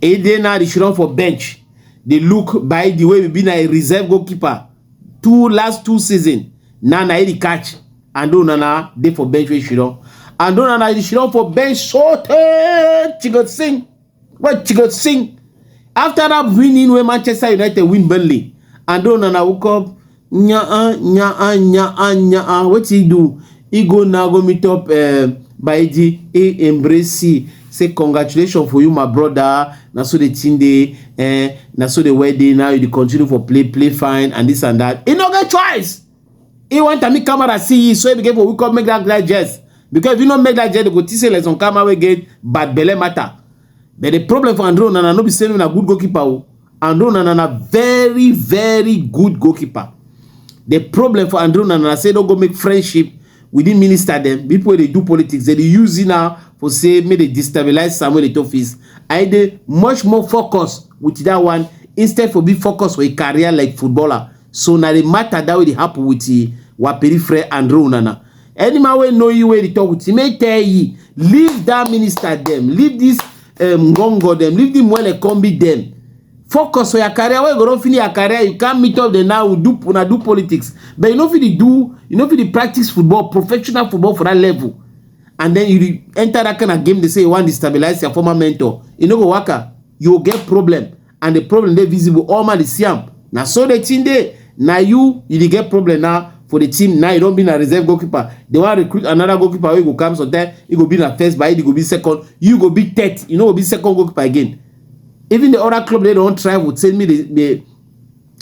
e dey now dey run for bench dey look by the way be na a reserve goalkeeper two last two season na na e catch and do nana dey for bench wey shiro and do nana e shiro for bench so tey chigot sing wey chigot sing after that winning wey manchester united win burnley and do nana woke up Nyaa nyaa nyaa nyaa wetin he do? He go now go meet up um Baidi, he embrace he say congratulations for you my brother, na so the thing dey eh, na so the wedding now you dey continue for play play fine and this and that. He no get choice. He want am make camera see you so he begin for wake up make that guy jest because if you no make that jest they go think say like some camera wey get bad belle matter. But the problem for Andre Onana no be say na good goalkeeper o. Andre Onana na very very good goalkeeper. The problem for Andre Onana na say no go make friendship within minister dem people wey dey do politics dem dey use it now for say make dey destabilize Samuel Eto'o face and e dey much more focus with that one instead for being focus for a career like footballer so na the matter that wey dey happen with Waperi Fred Andre Onana any man wey know you wey dey talk with him make tell ye leave that minister dem leave this um, ngongo dem leave the mwele combi dem focus for your career wey you go don finish your career you can meet up the now you do una do politics but you no fit dey do you no fit dey practice football professional football for that level and then you enter that kind of game dey say you wan destabilize your former mentor e no go work out you go get problem and the problem dey visible all man dey see am na so the thing dey na you you dey get problem now for the team now you don be na reserve goalkeeper they wan recruit another goalkeeper wey go come sometime he go be na first but he go be second you go be third you no go be second goalkeeper again even the other club dey don try with say me dey dey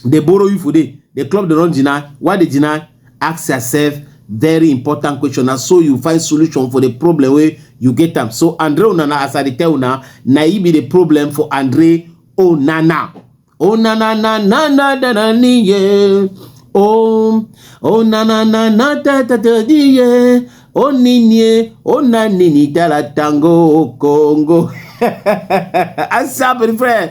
dey borrow you for there the club dey run jina why dey jina ask yourself very important question na so you find solution for the problem wey you get am so andre onana as i dey tell una na e be the problem for andre onana onana na na na na na niye oh onana na na ta ta ta niye oninie onanini dala tango kongo asa bere friend